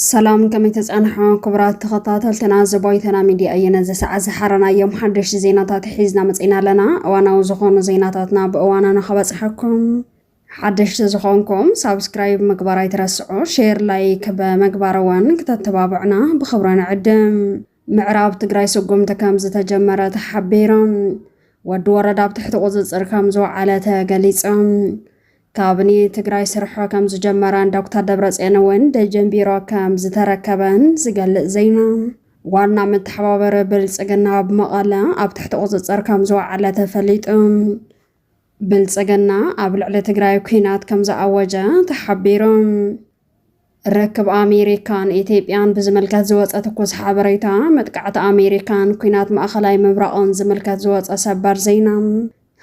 ሰላም ከመይ ተጻንሖ ክቡራት ተኸታተልትና ዘቦይተና ሚድያ እየነ ዘሰዓ ዝሓረናዮም ሓደሽቲ ዜናታት ሒዝና መፅና ኣለና እዋናዊ ዝኾኑ ዜናታትና ብእዋና ንኸበፅሐኩም ሓደሽቲ ዝኾንኩም ሳብስክራይብ ምግባር ኣይትረስዑ ሼር ላይክ ብምግባር እውን ክተተባብዕና ብኽብሪ ንዕድም ምዕራብ ትግራይ ስጉምቲ ከምዝተጀመረ ተሓቢሮም ወዲ ወረዳ ኣብ ትሕቲ ቁፅፅር ከምዝወዓለ ተገሊፆም ካብኒ ትግራይ ስርሖ ከምዝጀመረን ዶክተር ደብረፅዮን እውን ደጀን ቢሮ ከምዝተረከበን ዝገልፅ ዜና ዋና መተሓባበሪ ብልፅግና ኣብ መቐለ ኣብ ትሕቲ ቁፅፅር ከም ዝወዓለ ተፈሊጡ ብልፅግና ኣብ ልዕሊ ትግራይ ኩናት ከም ዝኣወጀ ተሓቢሩ ርክብ ኣሜሪካን ኢትዮጵያን ብዝምልከት ዝወፀ ትኩስ ሓበሬታ፣ መጥቃዕቲ ኣሜሪካን ኲናት ማእኸላይ ምብራቕን ዝምልከት ዝወፀ ሰበር ዜና፣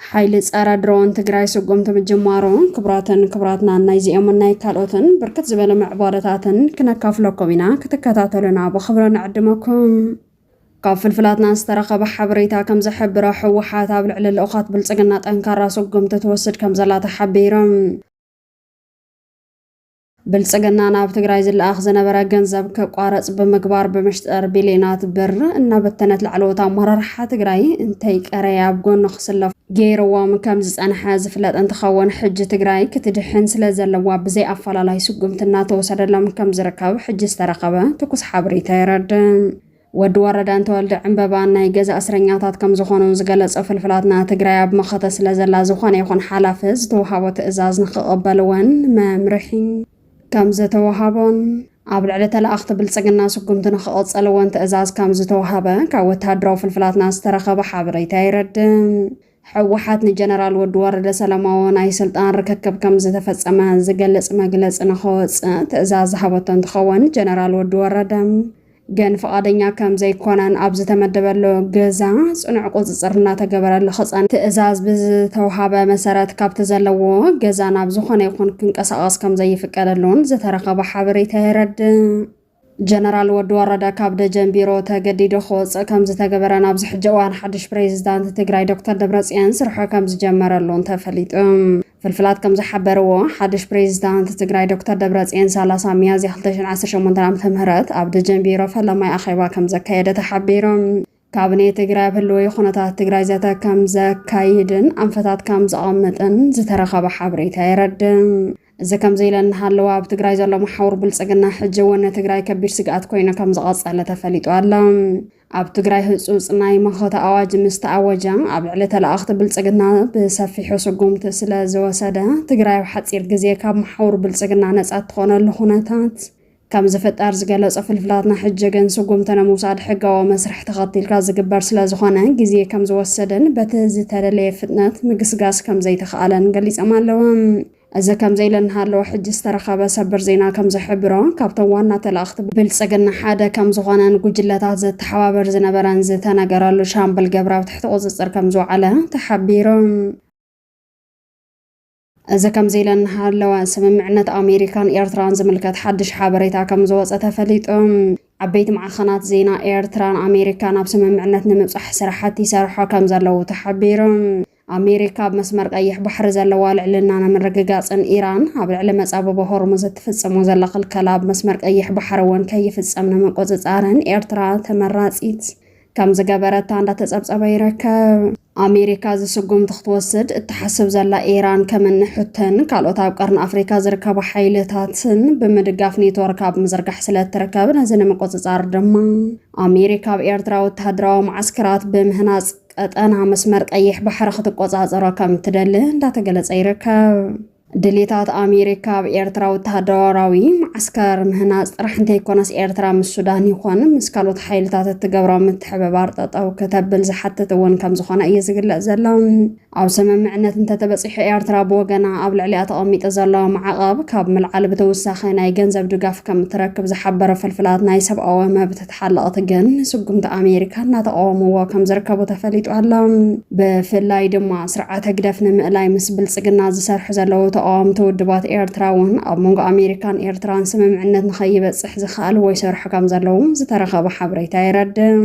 ሓይሊ ፀረ ድሮን ትግራይ ስጉምቲ ምጅማሩ፣ ክቡራትን ክቡራትናን ናይዚኦምን ናይ ካልኦትን ብርክት ዝበሉ ምዕባለታትን ክነካፍለኩም ኢና፣ ክትከታተሉና ብኽብሪ ንዕድመኩም። ካብ ፍልፍላትና ዝተረኸበ ሓበሬታ ከም ዝሕብሮ ህወሓት ኣብ ልዕሊ ልኡኻት ብልፅግና ጠንካራ ስጉምቲ ትወስድ ከም ዘላ ተሓቢሩ። ብልፅግና ናብ ትግራይ ዝለኣኽ ዝነበረ ገንዘብ ከቋረፅ ብምግባር ብምሽጠር ቢልዮናት ብር እናበተነት ላዕለዎት ኣመራርሓ ትግራይ እንተይቀረየ ኣብ ጎኑ ክስለፉ ገይርዎም ከም ዝፀንሐ ዝፍለጥ እንትኸውን ሕጂ ትግራይ ክትድሕን ስለ ዘለዋ ብዘይ ኣፈላላይ ስጉምቲ እናተወሰደሎም ከም ዝርከብ ሕጂ ዝተረኸበ ትኩስ ሓበሬታ የረድእ። ወዲ ወረደን ተወልደ ዕንበባን ናይ ገዛ እስረኛታት ከም ዝኾኑ ዝገለጹ ፍልፍላትና፣ ትግራይ ኣብ መኸተ ስለ ዘላ ዝኾነ ይኹን ሓላፊ ዝተውሃቦ ትእዛዝ ንክቕበልዎን መምርሒ ከም ዝተውሃቦን ኣብ ልዕሊ ተለኣኽቲ ብልጽግና ስጉምቲ ንክቕጽልዎን ትእዛዝ ከም ዝተውሃበ ካብ ወተሃደራዊ ፍልፍላትና ዝተረኸበ ሓበሬታ የረድእ። ህወሓት ንጀነራል ወዲ ወረደ ሰላማዊ ናይ ስልጣን ርክክብ ከም ዝተፈፀመ ዝገልፅ መግለፂ ንኸወፅእ ትእዛዝ ዝሃበቶ እንትኸውን ጀነራል ወዲ ወረደ ግን ፍቓደኛ ከም ዘይኮነን ኣብ ዝተመደበሉ ገዛ ፅኑዕ ቁፅፅር እናተገበረሉ ክፀን ትእዛዝ ብዝተውሃበ መሰረት ካብቲ ዘለዎ ገዛ ናብ ዝኾነ ይኹን ክንቀሳቐስ ከም ዘይፍቀደሉን ዝተረኸበ ሓበሬታ የረድእ። ጀነራል ወዲ ወረደ ካብ ደጀን ቢሮ ተገዲዶ ክወፅእ ከምዝተገበረን ኣብዚ ሕጂ እዋን ሓድሽ ፕሬዚዳንት ትግራይ ዶክተር ደብረፅዮን ስርሑ ከምዝጀመረሉን ተፈሊጡ። ፍልፍላት ከምዝሓበርዎ ሓድሽ ፕሬዚዳንት ትግራይ ዶክተር ደብረፅዮን 30 ሚያዝያ 2018 ዓ.ም ኣብ ደጀን ቢሮ ፈለማይ ኣኼባ ከምዘካየደ ተሓቢሩ። ካብኔ ትግራይ ኣብ ህልዊ ኩነታት ትግራይ ዘተ ከምዘካይድን ኣንፈታት ከምዘቐምጥን ዝተረኸበ ሓበሬታ የረድእ። እዚ ከምዚ ኢለ እናሃለወ ኣብ ትግራይ ዘሎ መሓውር ብልፅግና ሕጂ እውን ንትግራይ ከቢድ ስግኣት ኮይኑ ከምዝቐፀለ ተፈሊጡ ኣሎ። ኣብ ትግራይ ህፁፅ ናይ መኸተ ኣዋጅ ምስ ተኣወጀ ኣብ ልዕሊ ተለኣኽቲ ብልፅግና ብሰፊሑ ስጉምቲ ስለዝወሰደ ትግራይ ኣብ ሓፂር ግዜ ካብ መሓውር ብልፅግና ነፃ እትኾነሉ ኩነታት ከምዚ ፍጣር ዝገለጾ ፍልፍላትና ሕጀገን ስጉምቲ ንምውሳድ ሕጋዊ መስርሕ ተኸቲልካ ዝግበር ስለዝኾነ ግዜ ከምዝወሰደን በቲ ዝተደለየ ፍጥነት ምግስጋስ ከምዘይተኽኣለን ገሊጸም ኣለዉ። እዚ ከምዚ'ለ እናሃለወ ሕጂ ዝተረኸበ ሰበር ዜና ከምዝሕብሮ ካብቶም ዋና ተላእኽቲ ብልጽግና ሓደ ከምዝኾነን ጉጅለታት ዘተሓባበር ዝነበረን ዝተነገረሉ ሻምበል ገብረ ኣብ ትሕቲ ቁጽጽር ከምዝወዓለ ተሓቢሩ። እዚ ከምዚ ኢለን እናሃለዋ ስምምዕነት ኣሜሪካን ኤርትራን ዝምልከት ሓድሽ ሓበሬታ ከም ዝወፀ ተፈሊጡ። ዓበይቲ ማዕኸናት ዜና ኤርትራን ኣሜሪካን ኣብ ስምምዕነት ንምብፃሕ ስራሕቲ ይሰርሖ ከም ዘለዉ ተሓቢሩ። ኣሜሪካ ኣብ መስመር ቀይሕ ባሕሪ ዘለዋ ልዕልና ንምርግጋጽን ኢራን ኣብ ልዕሊ መጻብቦ ሆርሙዝ እትፍጽሞ ዘላ ክልከላ ኣብ መስመር ቀይሕ ባሕሪ እውን ከይፍጸም ንምቁጽጻርን ኤርትራ ተመራጺት ከም ዝገበረታ እንዳተጸብጸበ ይርከብ። ኣሜሪካ እዚ ስጉምቲ ክትወስድ እትሓስብ ዘላ ኢራን ከም እኒ ሑተን ካልኦት ኣብ ቀርኒ ኣፍሪካ ዝርከቡ ሓይልታትን ብምድጋፍ ኔትወርክ ኣብ ምዝርጋሕ ስለ እትርከብ ነዚ ንምቁፅፃር ድማ ኣሜሪካ ኣብ ኤርትራ ወተሃደራዊ መዓስከራት ብምህናፅ ቀጠና መስመር ቀይሕ ባሕሪ ክትቆፃፀሮ ከም እትደሊ እንዳተገለፀ ይርከብ። ድሌታት ኣሜሪካ ኣብ ኤርትራ ወተሃደራዊ መዓስከር ምህናጽ ጥራሕ እንተይኮነስ ኤርትራ ምስ ሱዳን ይኾን ምስ ካልኦት ሓይልታት እትገብሮ ምትሕብባር ጠጠው ክተብል ዝሓትት እውን ከም ዝኾነ እዩ ዝግለጽ ዘሎ። ኣብ ስምምዕነት እንተተበጺሑ ኤርትራ ብወገና ኣብ ልዕሊኣ ተቐሚጡ ዘሎ ማዕቐብ ካብ ምልዓል ብተወሳኺ ናይ ገንዘብ ድጋፍ ከም እትረክብ ዝሓበረ ፍልፍላት ናይ ሰብኣዊ መብት ሓለቕቲ ግን ስጉምቲ ኣሜሪካ እናተቓወምዎ ከም ዝርከቡ ተፈሊጡ ኣሎ። ብፍላይ ድማ ስርዓት ህግደፍ ንምእላይ ምስ ብልጽግና ዝሰርሑ ዘለዉ ተቓወምቲ ውድባት ኤርትራ እውን ኣብ መንጎ ኣሜሪካን ኤርትራን ስምምዕነት ንኸይበጽሕ ዝክኣልዎ ይሰርሑ ከም ዘለዉ ዝተረኸበ ሓበሬታ የረድእ።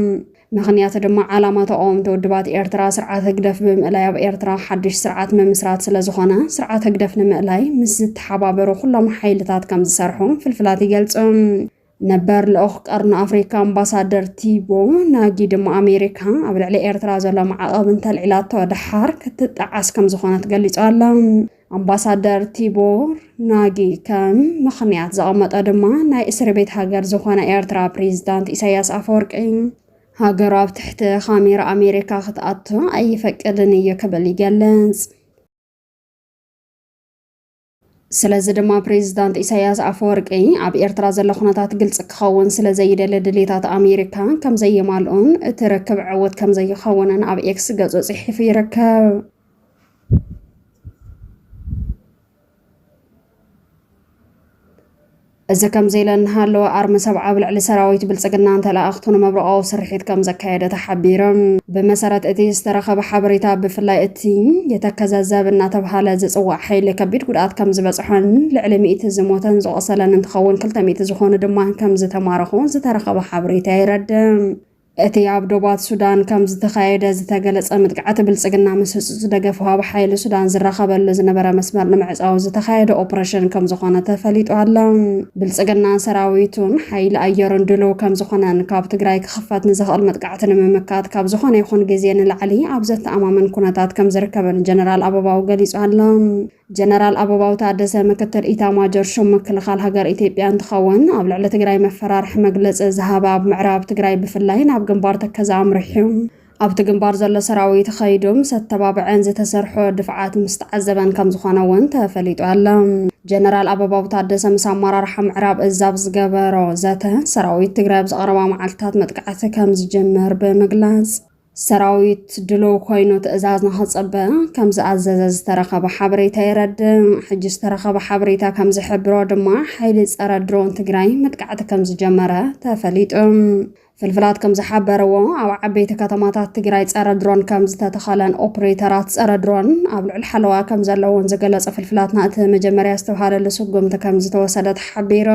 ምኽንያቱ ድማ ዓላማ ተቓወምቲ ውድባት ኤርትራ ስርዓት ህግደፍ ብምእላይ ኣብ ኤርትራ ሓድሽ ስርዓት ምምስራት ስለ ዝኾነ ስርዓት ህግደፍ ንምእላይ ምስ ዝተሓባበሩ ኩሎም ሓይልታት ከም ዝሰርሑ ፍልፍላት ይገልጹ። ነበር ልኡኽ ቀርኒ ኣፍሪካ ኣምባሳደር ቲቦ ናጊ ድማ ኣሜሪካ ኣብ ልዕሊ ኤርትራ ዘሎ ማዕቐብ እንተልዒላቶ ደሓር ክትጠዓስ ከም ዝኾነት ገሊጹ ኣሎ። ኣምባሳደር ቲቦር ናጊ ከም ምኽንያት ዘቐመጠ ድማ ናይ እስሪ ቤት ሃገር ዝኾነ ኤርትራ ፕሬዚዳንት ኢሳያስ ኣፈወርቂ ሃገሩ ኣብ ትሕቲ ካሜራ ኣሜሪካ ክትኣቱ ኣይፈቅድን እዩ ክብል ይገልጽ። ስለዚ ድማ ፕሬዚዳንት ኢሳያስ ኣፈወርቂ ኣብ ኤርትራ ዘሎ ኩነታት ግልፂ ክኸውን ስለዘይደሊ ድሌታት ኣሜሪካ ከምዘየማልኡን እቲ ርክብ ዕውት ከምዘይኸውንን ኣብ ኤክስ ገፁ ፅሒፉ ይርከብ። እዚ ከምዚ ኢለ እናሃለወ ኣርሚ ሰብዓ ኣብ ልዕሊ ሰራዊት ብልፅግናን ተለኣኣኽቱን መብረቓዊ ስርሒት ከምዘካየደ ተሓቢሩ። ብመሰረት እቲ ዝተረኸበ ሓበሬታ ብፍላይ እቲ የተከዘ ዘብ እናተብሃለ ዝፅዋዕ ሓይሊ ከቢድ ጉድኣት ከምዝበፅሖን ልዕሊ ሚእቲ ዝሞተን ዝቖሰለን እንትኸውን ክልተ ሚእቲ ዝኾኑ ድማ ከምዝተማረኹ ዝተረኸበ ሓበሬታ የረድእ። እቲ ኣብ ዶባት ሱዳን ከም ዝተኻየደ ዝተገለጸ ምጥቃዕቲ ብልጽግና ምስ ህጹጽ ደገፍ ወሃቢ ሓይሊ ሱዳን ዝራኸበሉ ዝነበረ መስመር ንምዕጻው ዝተኻየደ ኦፕሬሽን ከም ዝኾነ ተፈሊጡ ኣሎ። ብልጽግናን ሰራዊቱን ሓይሊ ኣየሩን ድሉው ከም ዝኾነን ካብ ትግራይ ክኽፈት ንዝኽእል መጥቃዕቲ ንምምካት ካብ ዝኾነ ይኹን ግዜ ንላዕሊ ኣብ ዘተኣማምን ኩነታት ከም ዝርከብን ጀነራል ኣበባው ገሊጹ ኣሎ። ጀነራል ኣበባው ታደሰ ምክትል ኢታማጆር ሹም ምክልኻል ሃገር ኢትዮጵያ እንትኸውን ኣብ ልዕሊ ትግራይ መፈራርሒ መግለፂ ዝሃበ ኣብ ምዕራብ ትግራይ ብፍላይ ናብ ግንባር ተከዘ ኣምሪሑ ኣብቲ ግንባር ዘሎ ሰራዊት ኸይዱ ምስ ኣተባብዐን ዝተሰርሖ ድፍዓት ምስ ተዓዘበን ከም ዝኾነ እውን ተፈሊጡ ኣሎ። ጀነራል ኣበባው ታደሰ ምስ ኣመራርሓ ምዕራብ እዝ ኣብ ዝገበሮ ዘተ ሰራዊት ትግራይ ኣብ ዝቐረባ መዓልትታት መጥቃዕቲ ከም ዝጅምር ብምግላፅ ሰራዊት ድሉው ኮይኑ ትእዛዝ ንክፅበ ከምዝኣዘዘ ዝተረኸበ ሓበሬታ የረድእ። ሕጂ ዝተረኸበ ሓበሬታ ከምዝሕብሮ ድማ ሓይሊ ፀረ ድሮን ትግራይ መጥቃዕቲ ከምዝጀመረ ተፈሊጡ። ፍልፍላት ከምዝሓበርዎ ኣብ ዓበይቲ ከተማታት ትግራይ ፀረ ድሮን ከምዝተተኸለን ኦፕሬተራት ፀረ ድሮን ኣብ ልዕሊ ሓለዋ ከምዘለውን ዝገለፀ ፍልፍላትና እቲ መጀመርያ ዝተብሃለሉ ስጉምቲ ከምዝተወሰደ ተሓቢሩ።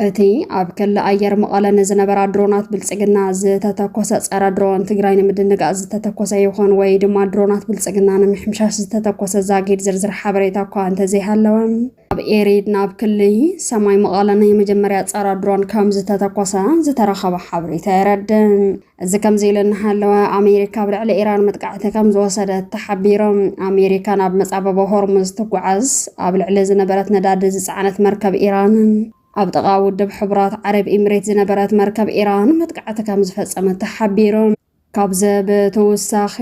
እቲ ኣብ ክሊ ኣየር መቐለ ንዝነበራ ድሮናት ብልፅግና ዝተተኮሰ ፀረ ድሮን ትግራይ ንምድንጋፅ ዝተተኮሰ ይኹን ወይ ድማ ድሮናት ብልፅግና ንምሕምሻሽ ዝተተኮሰ ዛጊድ ዝርዝር ሓበሬታ እኳ እንተዘይሃለወ ኣብ ኤሪድ ናብ ክሊ ሰማይ መቐለ ናይ መጀመርያ ፀረ ድሮን ከም ዝተተኮሰ ዝተረኸበ ሓበሬታ የረድእ። እዚ ከምዚ ኢሉ እናሃለወ ኣሜሪካ ኣብ ልዕሊ ኢራን መጥቃዕቲ ከም ዝወሰደት ተሓቢሩ። ኣሜሪካ ናብ መጻበቦ ሆርሙዝ ትጓዓዝ ኣብ ልዕሊ ዝነበረት ነዳዲ ዝጸዓነት መርከብ ኢራንን ኣብ ጥቓ ውድብ ሕቡራት ዓረብ ኢሚሬት ዝነበረት መርከብ ኢራን መጥቃዕቲ ከም ዝፈጸመት ተሓቢሩ። ካብዚ ብተወሳኺ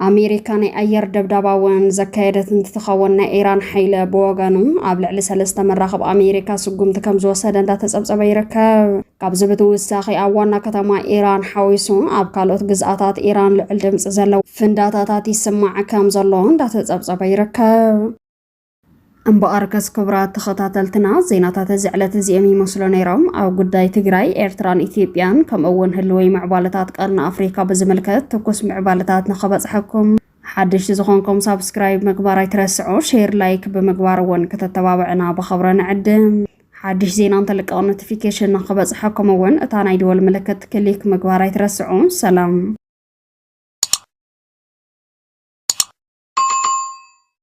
ኣሜሪካ ናይ ኣየር ደብዳባ እውን ዘካየደት እንትትኸውን ናይ ኢራን ሓይለ ብወገኑ ኣብ ልዕሊ ሰለስተ መራኽብ ኣሜሪካ ስጉምቲ ከም ዝወሰደ እንዳተፀብፀበ ይርከብ። ካብዚ ብትውሳኺ ኣብ ዋና ከተማ ኢራን ሓዊሱ ኣብ ካልኦት ግዝኣታት ኢራን ልዑል ድምፂ ዘለዎ ፍንዳታታት ይስማዕ ከም ዘሎ እንዳተፀብፀበ ይርከብ። እምበኣርከስ ክቡራት ተኸታተልትና ዜናታት እዚ ዕለት እዚኦም ይመስሉ ነይሮም። ኣብ ጉዳይ ትግራይ፣ ኤርትራን ኢትዮጵያን ከምኡ እውን ህልወይ ምዕባለታት ቀርኒ ኣፍሪካ ብዝምልከት ትኩስ ምዕባለታት ንኸበፅሐኩም ሓደሽቲ ዝኾንኩም ሳብስክራይብ ምግባር ኣይትረስዑ፣ ሼር ላይክ ብምግባር እውን ከተተባብዕና ብኸብረ ንዕድም። ሓድሽ ዜና እንተልቀቕ ኖቲፊኬሽን ንኸበፅሐኩም እውን እታ ናይ ደወል ምልክት ክሊክ ምግባር ኣይትረስዑ። ሰላም